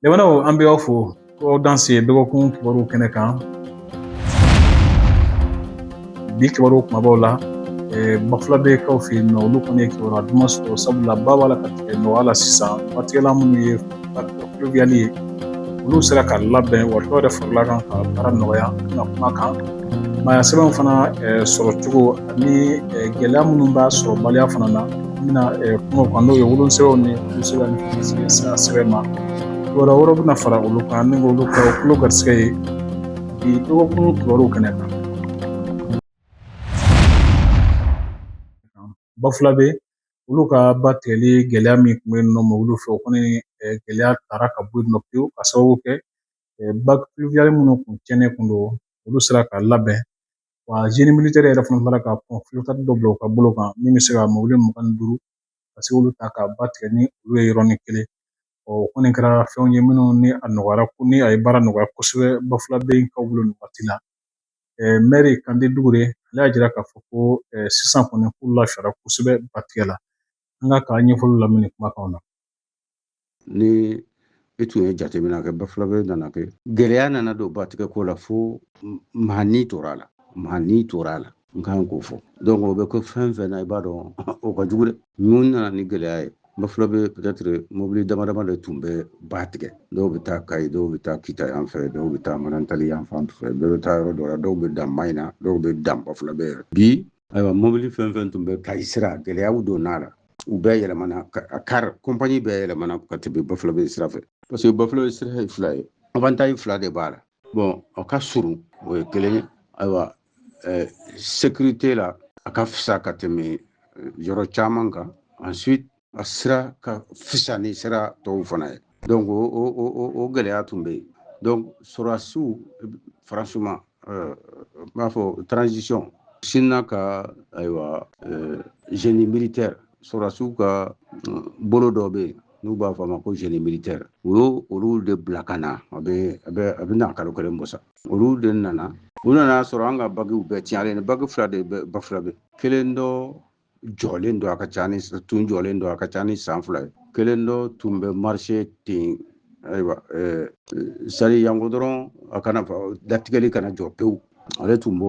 Jamanaw an bɛ aw fo ko aw danse dɔgɔkun kibaruw kɛnɛ kan bi kibaru kumabaw la bafulabɛkaw fɛ yen nɔ olu kɔni ye kibaruya duman sɔrɔ sabula ba b'a la ka tigɛ nɔgɔya la sisan waati minnu ye ka tulo bɛ ye olu sera ka labɛn wa dɔw yɛrɛ farala u kan ka baara nɔgɔya ka kuma kan maaya sɛbɛnw fana sɔrɔ cogo ani gɛlɛya minnu b'a sɔrɔ baliya fana an bɛna kuma kan n'o ye wolosɛbɛnw ni wolosɛbɛn ni sira sɛbɛn ma wɛrɛ wɛrɛ bɛna fara olu kan ni k'olu kɛ aw tulo garisigɛ ye bi dɔgɔkun kibaruw kɛnɛ kan bafulabɛ olu ka batigɛli gɛlɛya min kun bɛ yen nɔ olu fɛ o kɔni gɛlɛya taara ka bɔ yen nɔ pewu ka sababu kɛ baki minnu kun cɛnnen kun don olu sera ka labɛn wa génie militaire yɛrɛ fana bɔra ka dɔ bila u ka bolo kan min bɛ se ka mɔbili mugan ni duuru ka se k'olu ta ka ba tigɛ ni olu ye yɔrɔnin kelen o kɔni kɛra fɛnw ye minnu ni a nɔgɔyara kɔni a ye baara nɔgɔya kosɛbɛ bafulabɛkaw bolo nin waati la mɛri kande dukure ale y'a jira k'a fɔ ko sisan kɔni k'u lafiyara kosɛbɛ batigɛ la an k'a ka ɲɛfɔli lamɛn nin kumakanw na ni i tun ye jateminɛ kɛ bafulabɛ nana kɛ gɛlɛya nana don batigɛ ko la fo maa ni tora a la maa ni tora a la n ka kan k'o fɔ donc o bɛ ko fɛn fɛn na i b'a dɔn o ka jugu dɛ mun nana ni gɛlɛya ye bafulabɛ peut-être mobili dama dama de tun bɛ ba tigɛ dɔw bɛ taa kayi dɔw bɛ taa kita yan fɛ dɔw bɛ taa manantali yan fan fɛ dɔw bɛ taa yɔrɔ dɔ la dɔw bɛ dan mayina dɔw bɛ dan bafulabɛ yɛrɛ bi ayiwa mobili fɛn fɛn tun bɛ kayi sira gɛlɛyaw donna a la u bɛɛ yɛlɛmana a kari kɔnpani bɛɛ yɛlɛmana ka tɛmɛ bafulabɛ sira fɛ parce que bafulabɛ sira ye fila ye avantaji fila de b'a la bɔn o ka surun o ye kelen ye ayiwa eh, sécurité la a ka fisa ka tɛmɛ eh, yɔrɔ caman kan ensuite a sira ka fisa ni sira tɔw fana ye donc o o o o gɛlɛya tun bɛ yen donc sɔrɔdasiw franchement euh, n b'a fɔ transition sinna ka ayiwa euh, génie militaire sɔrɔdasiw ka euh, bolo dɔ bɛ yen n'u b'a fɔ a ma ko génie militaire u y'o olu de bila ka na a bɛ a bɛ a bɛ na kalo kelen bɔ sa olu de nana u nana a sɔrɔ an ka bagiw bɛɛ tiɲɛlen bagi fila de bɛ bafulabɛ kelen dɔ jɔlen don a ka ca ni tun jɔlen don a ka ca ni san fila ye kelen dɔ tun bɛ marise ten ayiwa eh, sari janko dɔrɔn a kana batigɛli kana jɔ pewu ale tun b'o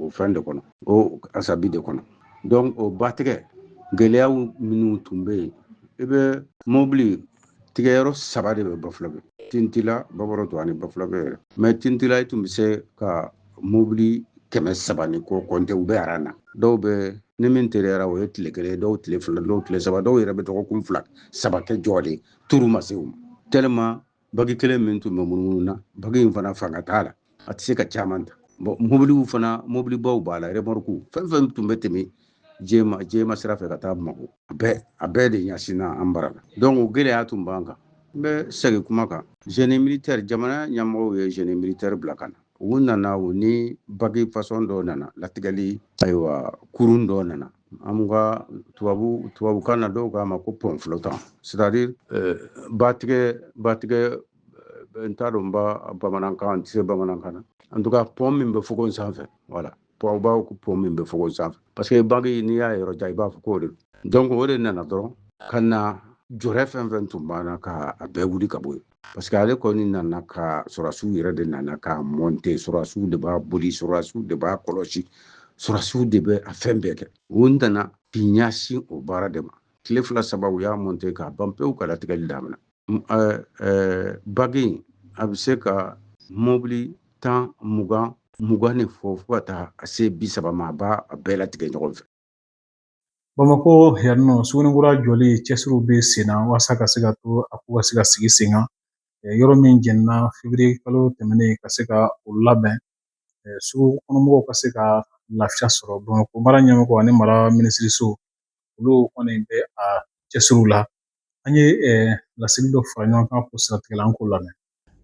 o fɛn de kɔnɔ o asabi de kɔnɔ donc o batigɛ gɛlɛyaw minnu tun bɛ yen i bɛ mobili tigɛyɔrɔ saba de bɛ bafulabɛ tintila babaroto ani bafulabɛ yɛrɛ même tintila i tun bɛ se ka mobili kɛmɛ saba ni kɔ kɔnte u bɛ aran na dɔw bɛ ni min teliyara o ye tile kelen dɔw tile fila dɔw tile saba dɔw yɛrɛ bɛ dɔgɔkun fila saba kɛ jɔ de turu ma se u ma tellement bagi kelen min tun bɛ munumunu na bagi in fana fanga t'a la a tɛ se ka caman ta bɔn mobiliw fana mobilibaw b'a la remɔrku fɛn fɛn tun bɛ tɛmɛ jɛma jɛma sira fɛ ka taa bamakɔ a bɛɛ a bɛɛ de ɲɛsinna an bara la donc o gɛlɛya tun b'an kan n bɛ segin kuma kan génie militaire jamana ɲɛmɔgɔw ye génie militaire bila ka na u nana u ni bagi fasɔn dɔ nana latigɛli ayiwa kurun dɔ nana an ka tubabu tubabukan na dɔw k'a ma ko pɔnflotan c'est à dire batigɛ batigɛ n t'a dɔn n ba bamanankan n tɛ se bamanankan na en tout cas pɔn min bɛ fogon sanfɛ voilà pɔn baw ko pɔn min bɛ fogon sanfɛ parce que bange n'i y'a yɔrɔ jan i b'a fɔ k'o de donc o de nana dɔrɔn ka na jɔrɛ fɛn fɛn tun b'an na ka a bɛɛ wuli ka bɔ yen parce que ale kɔni nana ka sɔrɔdasiw yɛrɛ de nana k'a mɔnte sɔrɔdasiw de b'a boli sɔrɔdasiw de b'a kɔlɔsi sɔrɔdasiw de bɛ a fɛn bɛɛ kɛ u nana k'i ɲɛsin o baara de ma tile fila saba u y'a mɔnte k'a ban pewu ka latigɛli damina bagi in a bɛ se ka mobili tan mugan mugan ni fɔ fo ka taa se bi saba ma a b'a bɛɛ latigɛ ɲɔgɔn fɛ bamakɔ yan nɔ sugunin kura jɔli cɛsiriw bɛ sen na walasa ka se ka to a ko ka se ka sigi sen kan yɔrɔ min jenina feburuye kalo tɛmɛnen ka se ka o labɛn sugu kɔnɔmɔgɔw ka se ka lafiya sɔrɔ bamakɔ mara ɲɛmɔgɔ ani mara minisiriso olu kɔni bɛ a cɛsiriw la an ye laseli dɔ fara ɲɔgɔn kan k'o siratigɛ an k'o lamɛn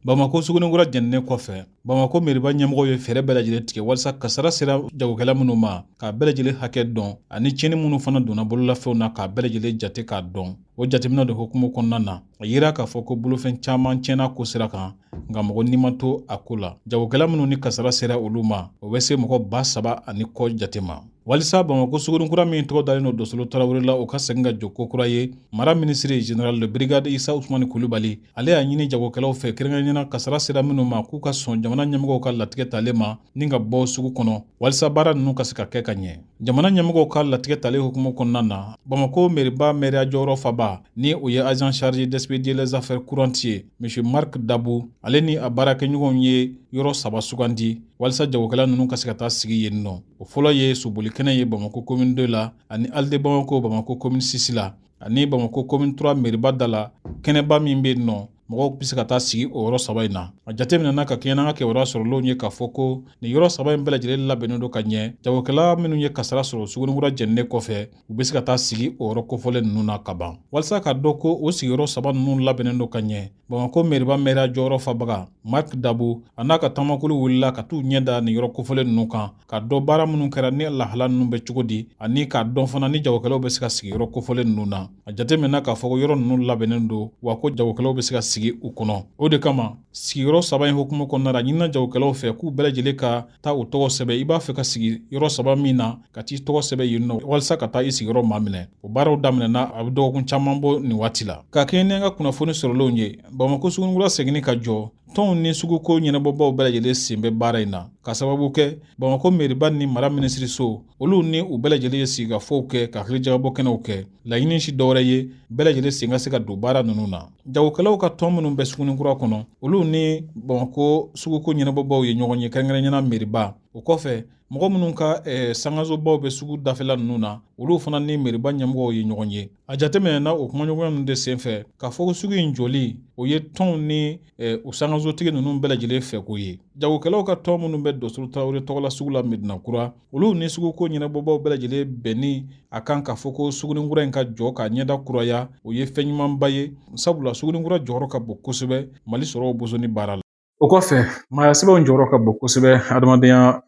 bamakɔ sugunin kura jeninen kɔfɛ bamakɔ meriba ɲɛmɔgɔ ye fɛɛrɛ bɛɛ lajɛlen tigɛ walasa kasara sera jagokɛla minnu ma k'a bɛɛ lajɛlen hakɛ dɔn ani tiɲɛni minnu fana donna bololafɛnw na k'a bɛɛ lajɛlen jate k'a dɔn o jateminɛ de hukumu kɔnɔna na a yira k'a fɔ ko bolofɛn caman tiɲɛna k'o sira kan nka mɔgɔ ni ma to a ko la jagokɛla minnu ni kasara sera olu ma o bɛ se mɔgɔ ba saba ani kɔ jate ma walisa bamakɔ sugunin kura min tɔgɔ dalen don dosolo tarawele la o ka segin ka jɔ ko kura ye mara minisiri général de brigade isa usumani kulubali ale y'a ɲini jagokɛlaw fɛ kɛrɛnkɛrɛnnenya na kasara sera minnu ma k'u ka sɔn jamana ɲɛmɔgɔw ka latigɛ talen ma ni ka bɔ sugu kɔnɔ walisa baara nunu ka se ka kɛ ka ɲɛ Jamana ɲɛmɔgɔw ka latigɛ talen hukumu kɔnɔna na bamakɔ meriba meriya jɔyɔrɔfabaa ni o ye agent chargé d'expédier les affaires courantes ye monsieur marc dabu ale ni a baarakɛɲɔgɔnw ye yɔrɔ saba sugandi walisa jagokɛla ninnu ka se ka taa sigi yen nɔ o fɔlɔ ye sobolikɛnɛ ye bamakɔ commune deux la ani halles de bamakɔ bamakɔ commune six la ani bamakɔ komini turuwa meriba da la kɛnɛba min bɛ yen nɔ mɔgɔw bɛ se ka taa sigi o yɔrɔ saba in na a jateminɛna ka kɛɲɛ n'an ka kibaruya sɔrɔlenw ye k'a fɔ ko nin yɔrɔ saba in bɛɛ lajɛlen labɛnnen don ka ɲɛ jagokɛla minnu ye kasara sɔrɔ sugunikura jɛninen kɔfɛ u bɛ se ka taa sigi o yɔrɔ kofɔlen ninnu na ka ban walisa k'a dɔn ko o sigiyɔrɔ saba ninnu labɛnnen don ka ɲɛ bamakɔ meriba mɛriya jɔyɔrɔ fabaga marki dabu a n'a ka tamakulu wulila ka t'u ɲɛ da nin yɔrɔ kofɔlen ninnu kan ka dɔ baara minnu kɛra ni lahala ninnu bɛ cogo di ani k'a dɔn fana ni jagokɛlaw bɛ se ka sigi yɔrɔ kofɔlen ninnu na a jateminɛna k'a fɔ ko yɔrɔ ninnu labɛnnen don wa ko jagokɛlaw bɛ se ka sigi u kɔnɔ o de kama sigiyɔrɔ saba in hukumu kɔnɔna la a ɲinina jagokɛlaw fɛ k'u bɛɛ lajɛlen ka taa u tɔgɔw sɛbɛn i b'a fɛ ka sigi yɔrɔ saba min na ka t'i tɔgɔ sɛbɛn yen nɔ walisa ka taa i sigiyɔrɔ maminɛ o baaraw daminɛna a bɛ dɔgɔkun caman bɔ nin waati la ka kɛɲɛ n'an ka kunnafoni sɔrɔlenw ye bamakɔ sugunikura seginni ka jɔ tɔnw ni suguko ɲɛnabɔbaw bɛɛ lajɛlen sen bɛ baara in na ka sababu kɛ bamakɔ meriba ni mara minisiriso olu ni u bɛɛ lajɛlen ye sigikafɔw kɛ ka hakilijagabɔ kɛnɛw kɛ laɲini tɛ dɔwɛrɛ ye bɛɛ lajɛlen sen ka se ka don baara ninnu na jagokɛlaw ka tɔn minnu bɛ sugunikura kɔnɔ olu ni bamakɔ suguko ɲɛnabɔbaw ye ɲɔgɔn ye kɛrɛnkɛrɛnɲɛna meriba o kɔfɛ mɔgɔ minnu ka eh, sankansobaw bɛ sugu dafɛla ninnu na olu fana ni meriba ɲɛmɔgɔw ye ɲɔgɔn ye a jateminɛna o kumaɲɔgɔnya ninnu de senfɛ k'a fɔ ko sugu in jɔli o ye tɔnw ni o sankansotigi ninnu bɛɛ lajɛlen fɛko ye jagokɛlaw ka tɔn minnu bɛ dɔsolo tarawele tɔgɔla sugu la medina kura olu ni suguko ɲɛnabɔbaw bɛɛ lajɛlen bɛnni a kan k'a fɔ ko sugunikura in ka jɔ k'a ɲɛda kuraya o ye fɛn ɲumanba ye sabula sugunikura jɔyɔrɔ ka bon kosɛbɛ mali sɔrɔ bosonni baara la o kɔfɛ maaya sɛbɛnw jɔyɔrɔ ka bon kosɛbɛ hadamadenya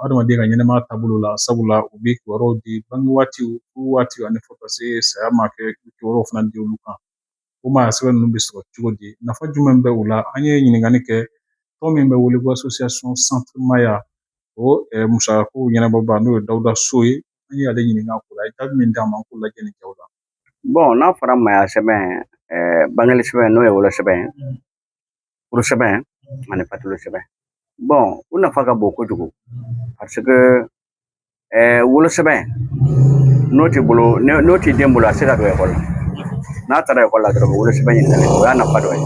hadamaden ka ɲɛnɛmaya taabolo la sabula u bɛ kibaruyaw di bange waatiw furu waatiw ani fo ka se saya ma ka kibaruyaw fana di olu kan o maaya sɛbɛn ninnu bɛ sɔrɔ cogo di nafa jumɛn bɛ u la an ye ɲininkali kɛ tɔn min bɛ wele ko association centre maaya o musakako ɲɛnabɔba n'o ye dawuda so ye an ye ale ɲininka ko la jaabi min d'an ma an k'o lajɛ nin kɛw la bɔn n'a fɔra maaya sɛbɛn bange sɛbɛn n'o ye wolosɛbɛn ye furu sɛbɛn ani fatuli sɛbɛn bɔn u nafa ka bon kojugu parce que ɛɛ wolo sɛbɛn n'o t'i bolo n'o t'i den bolo a tɛ se ka don ekɔli la n'a taara ekɔli la dɔrɔn wolo sɛbɛn ɲininkali o y'a nafa dɔ ye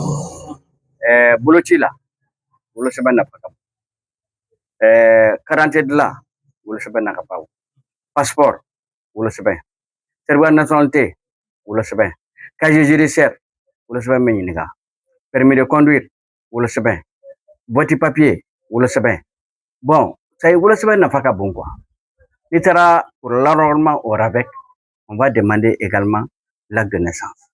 ɛɛ boloci la wolo sɛbɛn nafa ka bon ɛɛ karidante dilan wolo sɛbɛn nafa ka bon pasipɔri wolo sɛbɛn sɛritifika nasɔnalite wolo sɛbɛn kaziye jidisiyɛri wolo sɛbɛn bɛ ɲininka permis de conduire wolo sɛbɛn wote papiye wolo sɛbɛn bɔn sayi wolo sɛbɛn nafa ka bon quoi n'i taara pour l'enrôlement au RAVEC on va demander également l'acte de naissance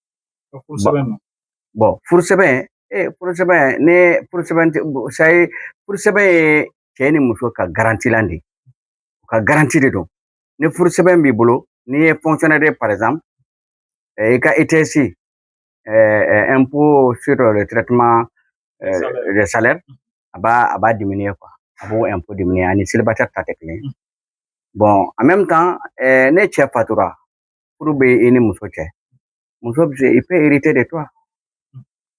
bɔn furu sɛbɛn ee furu sɛbɛn ni furu sɛbɛn sayi furu sɛbɛn ye cɛ ni muso ka garantilan de ye u ka garanti de don ni furu sɛbɛn b'i bolo n'i ye fonctionnaire par exemple i ka ITS impôt sur le traitement de salaire a b'a a b'a diminuer quoi a b'o impôt diminuer ani célibataire ta tɛ kelen bɔn en même temps ni cɛ fatura furu bɛ i ni muso cɛ muso bɛ se elle peut hériter de toi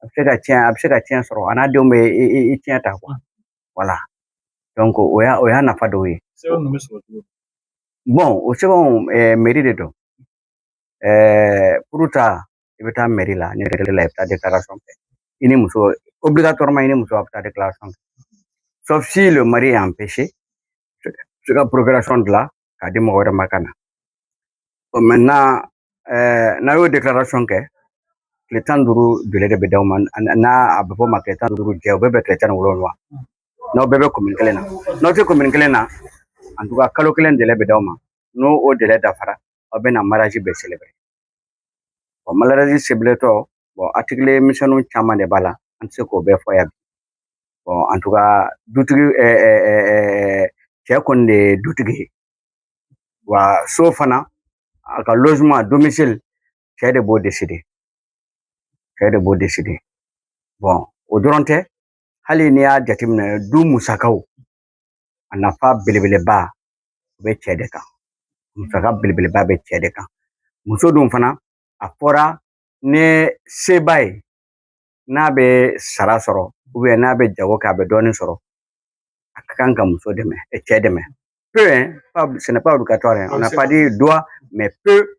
a bɛ se ka tiɲɛ a bɛ se ka tiɲɛ sɔrɔ a n'a denw bɛ i tiɲɛ ta quoi voilà donc o y'a o y'a nafa dɔw ye sɛbɛn ninnu bɛ sɔrɔ cogo di bɔn o sɛbɛnw meri de don furu ta i bɛ taa mɛri la ni mɛri la i bɛ taa déclaration kɛ i ni muso obligatoirement i ni muso aw bɛ taa déclaration kɛ sauf si le mari est empêché se ka procuration dilan k'a di mɔgɔ wɛrɛ ma ka na bon maintenant ɛɛ n'aw y'o déclaration kɛ tile tan ni duuru délai de bɛ d'aw ma n'a a bɛ fɔ o ma tile tan ni duuru jɛ o bɛ bɛn tile tan ni wolonwula n'aw bɛɛ bɛ commune kelen na n'aw tɛ commune kelen na en tout cas kalo kelen délai bɛ d'aw ma n'o o délai dafara aw bɛ na mariage bɛ célébrer bɔn mariage civil tɔ bɔn article misɛnninw caman de b'a la an tɛ se k'o bɛɛ fɔ yan bɔn en tout cas dutigi ɛɛ ɛɛ ɛɛ cɛ kɔni de ye dutigi ye wa so fana a ka logement domicile cɛ de b'o décider cɛ de b'o décider bɔn o dɔrɔn tɛ hali n'i y'a jateminɛ du musakaw a nafa belebeleba o bɛ cɛ de kan musaka belebeleba bɛ cɛ de kan muso dun fana a fɔra ni se b'a ye n'a bɛ sara sɔrɔ n'a bɛ jago kɛ a bɛ dɔɔnin sɔrɔ a ka kan ka muso dɛmɛ cɛ dɛmɛ peut hein, pas, ce n'est pas obligatoire, hein. on n'a pas dit doit, mais peut,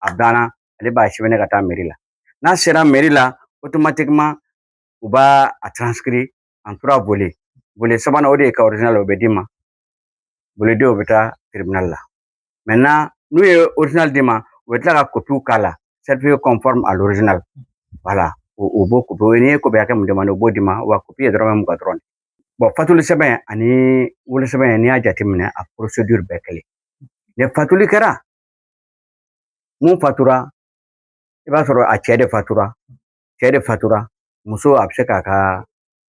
a banna ale b'a sɛbɛn ka taa meri la n'a sera meri la automatiquement u b'a a transcrire en trois volets volet sabanan o de ye i ka original o bɛ d'i ma volet deux bɛ taa tribunal la maintenant n'u ye original d'i ma u bɛ tila ka kopiw k'a la certifié conforme à l'original voilà o b'o kopi o n'i ye kopi hakɛ min demande o b'o d'i ma wa kopi ye dɔrɔmɛ mugan dɔrɔn bɔn fatuli sɛbɛn ani wolosɛbɛn n'i y'a jateminɛ a procédure bɛɛ kelen ni fatuli kɛra min fatura i b'a sɔrɔ a cɛ de fatura cɛ de fatura muso a bɛ se k'a ka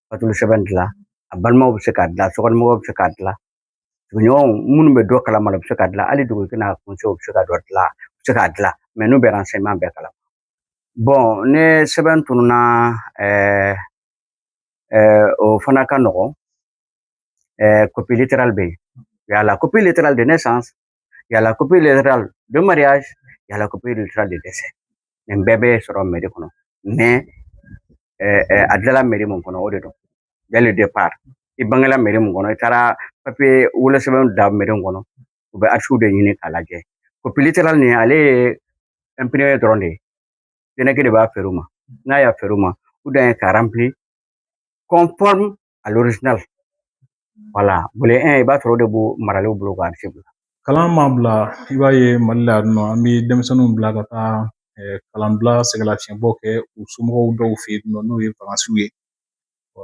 fatuli sɛbɛn dilan a balimaw bɛ se k'a dilan sokɔnɔmɔgɔw bɛ se k'a dilan sigiɲɔgɔnw minnu bɛ dɔ kalama u bɛ se k'a dilan hali dugutigi n'a conseillers bɛ se ka dɔ dilan u bɛ se k'a dilan mɛ n'u bɛ renseignement bɛɛ kalama bɔn ne sɛbɛn tununa ɛɛ ɛɛ o fana ka nɔgɔn ɛɛ copie littérale bɛ yen il y a la copie littérale de naissance il y a la copie littérale de mariage il y a la copie littérale de décès nin bɛɛ bɛ sɔrɔ mɛri kɔnɔ mɛ a dilanla mɛri min kɔnɔ o de don dès le départ i bangela mɛri min kɔnɔ i taara papiye wolosɛbɛn da mɛri kɔnɔ u bɛ archives de ɲini k'a lajɛ copie littérale nin ale ye imprimé dɔrɔn de ye DNEC de b'a feere u ma n'a y'a feere u ma u dan ye k'a rempli conforme à l'original wala volet un i b'a sɔrɔ o de b'o maralen bolo k'a se bila kalan ma bila i b'a ye mali la yan nɔ an bɛ denmisɛnninw bila ka taa kalanbila sɛgɛnlafiɲɛbɔ kɛ u somɔgɔw dɔw fɛ yen nɔ n'o ye vacances ye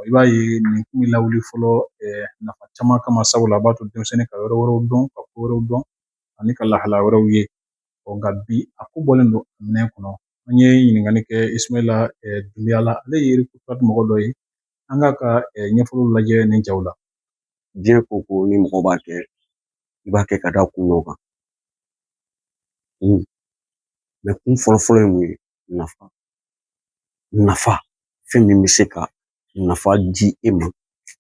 i b'a ye nin tun bɛ lawuli fɔlɔ nafa caman kama sabula a b'a to denmisɛnnin ka yɔrɔ wɛrɛw dɔn ka ko wɛrɛw dɔn ani ka lahala wɛrɛw ye nka bi a ko bɔlen don minɛn kɔnɔ an ye ɲininkali kɛ ismaila dunbiya la ale ye mɔgɔ dɔ ye an k'a ka ɲɛfɔliw lajɛ nin jaw la diɲɛ ko o ko ni mɔgɔ b'a kɛ i b'a kɛ ka da kun dɔ kan kun mɛ kun fɔlɔfɔlɔ ye mun ye nafa nafa fɛn min bɛ se ka nafa di e ma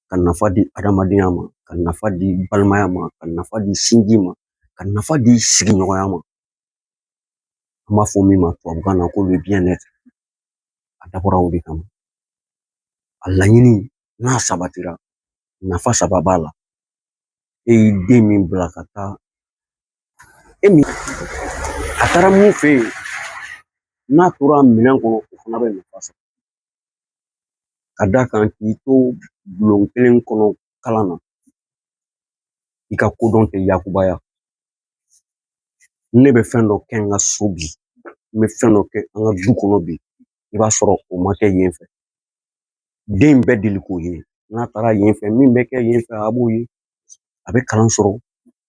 ka nafa di adamadenya ma ka nafa di balimaya ma ka nafa di sinji ma ka nafa di sigiɲɔgɔnya ma an b'a fɔ min ma tubabukan na ko le bien être a dabɔra o de kama a laɲini n'a sabatira nafa saba b'a la e y'i den min bila ka taa e min a taara min fɛ yen n'a tora minɛn kɔnɔ o fana bɛ nafa sɔrɔ ka d'a kan k'i to bulon kelen kɔnɔ kalan na i ka kodɔn tɛ yakubaya ne bɛ fɛn dɔ kɛ n ka so bi n bɛ fɛn dɔ kɛ an ka du kɔnɔ bi i b'a sɔrɔ o ma kɛ yen fɛ den bɛ deli k'o ye n'a taara yen fɛ min bɛ kɛ yen fɛ a b'o ye a bɛ kalan sɔrɔ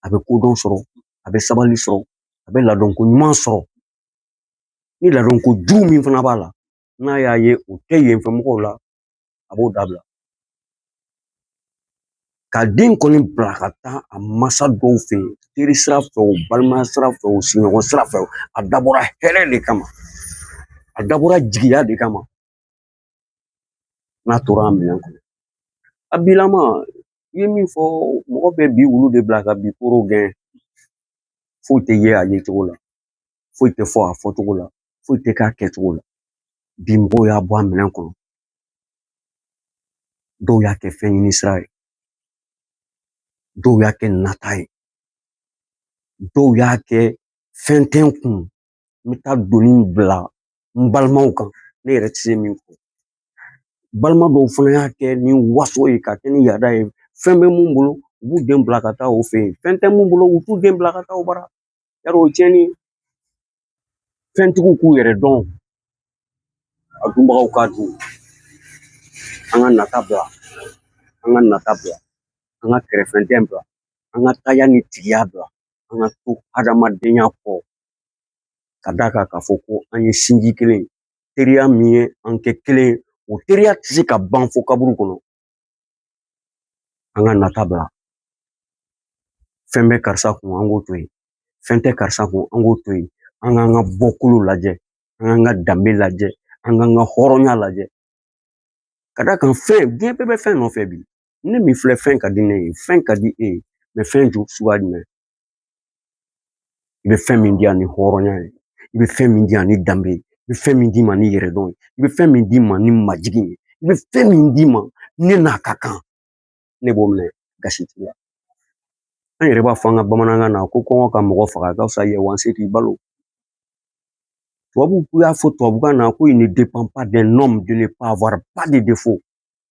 a bɛ kodɔn sɔrɔ a bɛ sabali sɔrɔ a bɛ ladonko ɲuman sɔrɔ ni ladonko jugu min fana b'a la n'a y'a ye o tɛ yen fɛ mɔgɔw la a b'o dabila k'a den kɔni bila ka taa a mansa dɔw fɛ yen teri sira fɛ o balima sira fɛ o sigiɲɔgɔn sira fɛ o a dabɔra hɛrɛ de kama a dabɔra jigiya de kama n'a tora a minɛn kɔnɔ a bilama i ye min fɔ mɔgɔ bɛ bi wulu de bila ka bi koro gɛn foyi tɛ ye a yecogo la foyi tɛ fɔ a fɔcogo la foyi tɛ k'a kɛcogo la bi mɔgɔw y'a bɔ a minɛn kɔnɔ dɔw y'a kɛ fɛn ɲini sira ye dɔw y'a kɛ nata ye dɔw y'a kɛ fɛn tɛ n kun n bɛ taa doni bila n balimaw kan ne yɛrɛ tɛ se min kɔ balima dɔw fana y'a kɛ ni waso ye k'a kɛ ni yaada ye fɛn bɛ min bolo u b'u den bila ka taa o fɛ yen fɛn tɛ min bolo u t'u den bila ka taa o bara yarɔ o tiɲɛni fɛntigiw k'u yɛrɛ dɔn a dunbagaw k'a dun an ka nata bila an ka nata bila an ka kɛrɛfɛdɛn bila an ka taaya ni tigiya bila an ka to hadamadenya kɔ ka d'a kan k'a fɔ ko an ye sinji kelen teriya min ye an kɛ kelen o teriya tɛ se ka ban fo kaburu kɔnɔ an ka nata bila fɛn bɛ karisa kun an k'o to yen fɛn tɛ karisa kun an k'o to yen an k'an ka bɔkolo lajɛ an k'an ka danbe lajɛ an k'an ka hɔrɔnya lajɛ ka d'a kan fɛn diɲɛ bɛɛ bɛ fɛn nɔfɛ bi ne min filɛ fɛn ka di ne ye fɛn ka di e ye fɛn ju suguya jumɛn i bɛ fɛn min di yan ni hɔrɔnya ye i bɛ fɛn min di yan ni danbe ye i bɛ fɛn min di n ma ni yɛrɛdɔn ye i bɛ fɛn min di n ma ni majigin ye i bɛ fɛn min di n ma ne n'a ka kan ne b'o minɛ gasi t'i la an yɛrɛ b'a fɔ an ka bamanankan na ko kɔngɔ ka mɔgɔ faga ka fisa yɛ wanse k'i balo tubabuw y'a fɔ tubabukan na ko il ne dépend pas d'un homme de ne pas avoir pas de défaut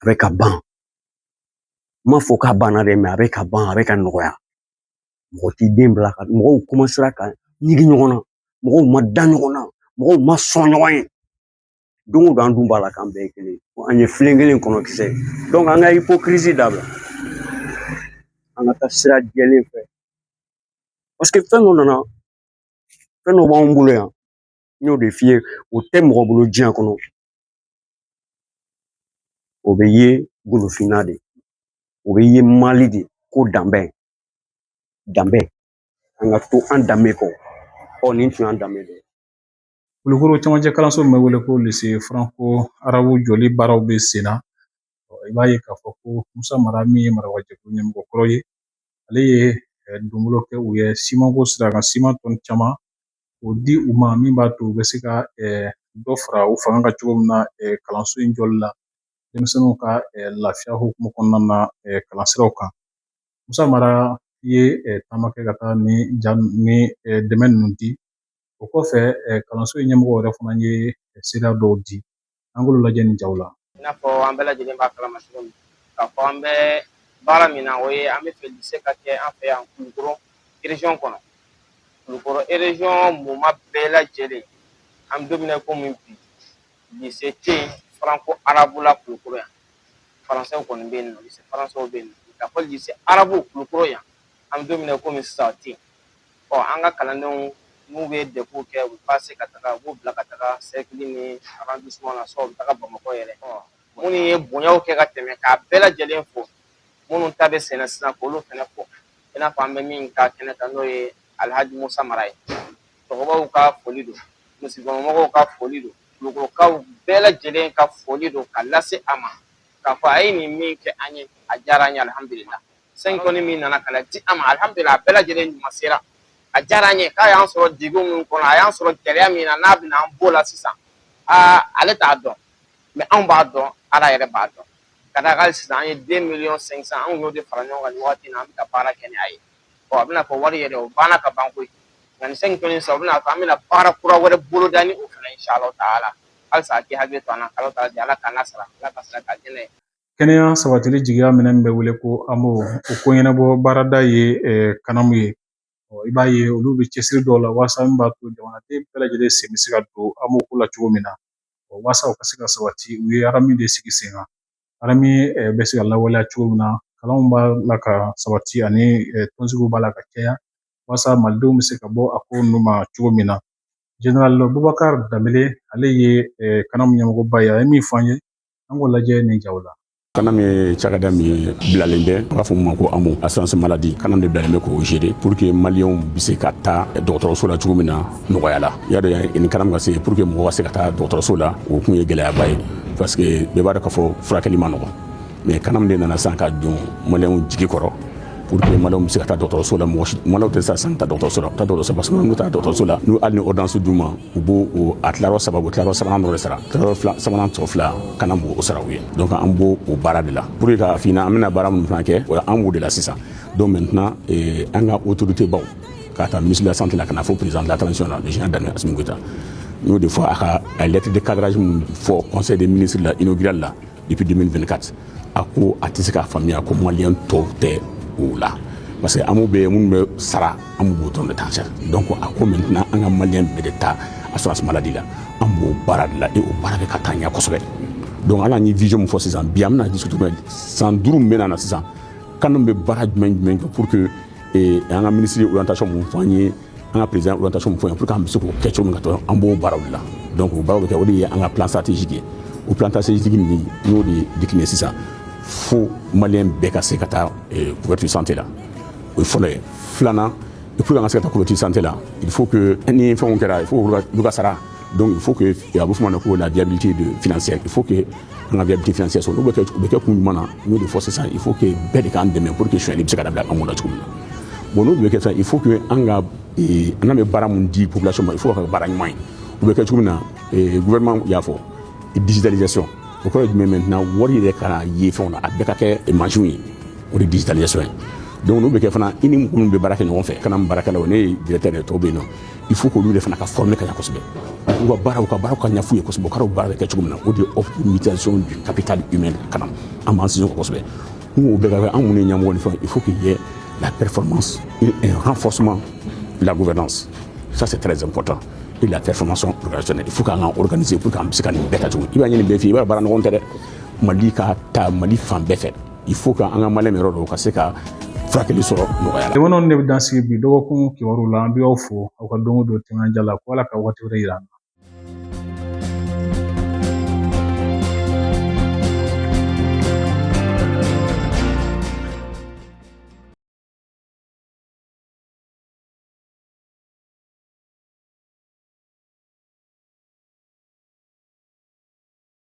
A bɛ ka ban n m'a fɔ k'a banna dɛ a bɛ ka ban a bɛ ka nɔgɔya mɔgɔ t'i den bila ka mɔgɔw ka ɲigi ɲɔgɔn na mɔgɔw ma da ɲɔgɔn na mɔgɔw ma sɔn ɲɔgɔn ye don o don an dun b'a la k'an bɛɛ ye kelen an ye filen kelen kɔnɔ kisɛ an ka ipokirizi dabila an ka taa sira jɛlen fɛ paseke fɛn dɔ nana fɛn dɔ b'anw bolo yan n y'o de f'i ye o tɛ mɔgɔ bolo diɲɛ kɔnɔ o bɛ ye golofinna de o bɛ ye mali de ko danbe danbe an ka to an danbe kɔ ɔ nin tun y'an danbe de ye kulukoro camancɛ kalanso min bɛ wele ko lise faranko arabu jɔli baaraw bɛ sen na i b'a ye k'a fɔ ko musa mara min ye marabaajɛkulu ɲɛmɔgɔ kɔrɔ ye ale ye eh, donbolo kɛ u ye simanko sira kan siman tɔni caman O di u ma min b'a to u bɛ se ka dɔ fara u fanga kan cogo min na kalanso in jɔli la denmisɛnninw ka lafiya hukumu kɔnɔna na kalansiraw kan musa mara ye taama kɛ ka taa nin dɛmɛ ninnu di o kɔfɛ kalanso in ɲɛmɔgɔ yɛrɛ fana ye seereya dɔw di an k'olu lajɛ nin jaw la i n'a fɔ an bɛɛ lajɛlen b'a kalama cogo min k'a fɔ an bɛ baara min na o ye an b'a fɛ lise ka kɛ an fɛ yan kulukoro rejiyɔn kɔnɔ kulukoro rejiyɔn mumɛ bɛɛ lajɛlen an bɛ don min na komi bi lise tɛ yen faranko arabu la kulukoro yan faransɛw kɔni bɛ yen nɔ lise faransɛw bɛ yen nɔ k'a fɔ lise arabu kulukoro yan an bɛ don min na komi sisan o tɛ yen Ɔ an ka kalandenw n'u bɛ dɛfuw kɛ ka pase ka taga u b'u bila ka taga sɛrɛkili ni arɔndisiman na u bɛ taga bamakɔ yɛrɛ minnu ye bonyaw kɛ ka tɛmɛ k'a bɛɛ lajɛlen fo minnu ta bɛ senna sisan k'olu fana fo i n'a fɔ an bɛ min ka kɛnɛ kan n'o ye alihaji musa mara ye cɛkɔrɔbaw ka foli don misirikɔnɔmɔgɔw ka foli don kulukorokaw bɛɛ lajɛlen ka foli don ka lase a ma k'a fɔ a ye nin min kɛ an ye a diyara an ye alihamudulila Sɛn tɔni min nana ka di an ma alihamdulila a bɛɛ lajɛlen ɲuman sera a diyara an ye k'a y'an sɔrɔ degun min kɔnɔ a y'an sɔrɔ gɛlɛya min na n'a bɛna an b'o la sisan aa ale t'a dɔn mɛ anw b'a dɔn ala yɛrɛ b'a dɔn ka d'a kan sisan an ye de miliyɔn sɛn san anw y'o de fara ɲɔgɔn kan nin waati in na an bɛ ka baara kɛ ni a ye ɔ a bɛna fɔ wari yɛrɛ o banna ka ban koyi nka nin sɛnki tɔni sisan u bɛna fɔ an bɛna baara kura wɛrɛ boloda ni o fana ye insalahu taala halisa a k'i hakili to an na kalo ta di ala k'an ka sara ala k'a sara k'a dɛmɛ Kɛnɛya sabatili jigiya min bɛ wele ko AMO o ko ɲɛnabɔ baarada ye kanamu ye i b'a ye olu bɛ cɛsiri dɔw la walasa min b'a to jamanaden bɛɛ lajɛlen sen bɛ se ka don AMO ko la cogo min na walasa o ka se ka sabati u ye aramu de sigi sen kan aramu bɛ se ka lawaleya cogo min na kalanw b'a la ka sabati ani tɔnsigiw b'a la ka caya walasa malidenw bɛ se ka bɔ a ko in nun ma cogo min na General Boubacar Dembele ale ye kanamu ɲɛmɔgɔba ye a ye min fɔ an ye an k'o lajɛ nin jaw la kanamu ye cakɛda min ye bilalen bɛ b'a fɔ min ma ko AMO assurance maladie kanamu de bilalen bɛ k'o gérer pour que maliyɛnw bɛ se ka taa dɔgɔtɔrɔso la cogo min na nɔgɔya la y'a dɔn yanni kanamu ka se pour que mɔgɔ ka se ka taa dɔgɔtɔrɔso la o tun ye gɛlɛyaba ye parce que bɛɛ b'a dɔn k'a fɔ furakɛli man nɔgɔ mais kanamu de nana sa ka don maliyɛnw jigi kɔrɔ pour que maliyɛnw bɛ se ka taa dɔgɔtɔrɔso la mɔgɔ maliyɛnw tɛ siran sa ka taa dɔgɔtɔrɔso la taa dɔgɔtɔrɔso parce que n'u taa dɔgɔtɔrɔso la n'u hali ni ordonnance d'u ma u b'o a tilayɔrɔ saba u tilayɔrɔ sabanan dɔ de sara tilayɔrɔ sabanan tɔ fila kanamu b'o sara u ye donc an b'o o baara de la pour que k'a f'i ɲɛna an bɛna baara minnu fana kɛ o an b'o de la sisan donc maintenant an ka autorité baw k'a ta ministre de la santé la ka na fo président de la transition la le général d'armée Assimi Goïta n y'o de fɔ a ka lettre de cadrage min fɔ conseil des ministres la inaugural la depuis 2024 a ko a tɛ se k'a faamuya ko maliyɛn tɔw tɛ o la parce que amo bɛ minnu bɛ sara amo b'o dɔrɔn de ta sara donc a ko maintenant an ka maliyɛn bɛɛ de ta assurance maladie la an b'o baara de la et o baara bɛ ka taa ɲɛ kosɛbɛ donc ale ye vision min fɔ sisan bi an bɛna discuter min san duuru min bɛ na sisan canam bɛ baara jumɛn jumɛn kɛ pour que an ka minisiri orientation min fɔ an ye an ka président orientation min fɔ an ye pour que an bɛ se k'o kɛ cogo min na an b'o baara de la donc o baaraw bɛ kɛ o de ye an ka plan stratégique ye o plan stratégique nin n'o de décliné sisan fo maliyɛn bɛɛ ka se ka taa eh, couverture santé la o ye fɔlɔ ye filanan pour que an ka se ka taa couverture santé la il faut que ni fɛnw kɛra il faut olu ka sara donc il faut que a bɛ f'o ma ko la viabilité financière il faut que an ka viabilité financière sɔrɔ n'o bɛ kɛ o bɛ kɛ kun jumɛn na n y'o de fɔ sisan il faut que bɛɛ de k'an dɛmɛ pour que sonyali bɛ se ka dabila an kunna cogo min na bon n'o bɛ kɛ sisan il faut que an ka eh, an bɛ baara min di population ma il faut ka baara ɲuman ye o bɛ kɛ cogo min na eh, gouvernement y'a fɔ digitalisation o kɔrɔ ye jumɛn maintenant wari yɛrɛ ka ye fɛnw na a bɛɛ ka kɛ mansinw ye o de digitalisation ye donc n'o bɛ kɛ fana i ni mɔgɔ min bɛ baara kɛ ɲɔgɔn fɛ canam baarakɛlaw ne ye directeur ye tɔw bɛ yen nɔ il faut k'olu fana ka former ka ɲɛ kosɛbɛ u ka baaraw ka baaraw ka ɲɛf'u ye kosɛbɛ u ka baara bɛ kɛ cogo min na o de ye optimisation du capital humain ka na an b'an sinsin o kan kosɛbɛ n k'o bɛɛ ka kɛ an minnu ye ɲɛmɔgɔ ni fɛnw il faut qu'il y ait la performance et un renforcement de la gouvernance ça c'est très important et la performance organisationnelle il faut k'an ka organiser pour que an bɛ se ka nin bɛɛ kɛ cogo i b'a ɲini bɛɛ fɛ i b'a baara nɔgɔn tɛ dɛ mali ka taa mali fan bɛɛ fɛ il faut que an ka Maliyɛn yɛrɛ dɔw ka se ka furakɛli sɔrɔ nɔgɔya la. Jamanaw de bɛ dan sigi bi dɔgɔkun kibaru la an bɛ aw fo aw ka don o don timinandiya la ko Ala ka wakati wɛrɛ yira an na.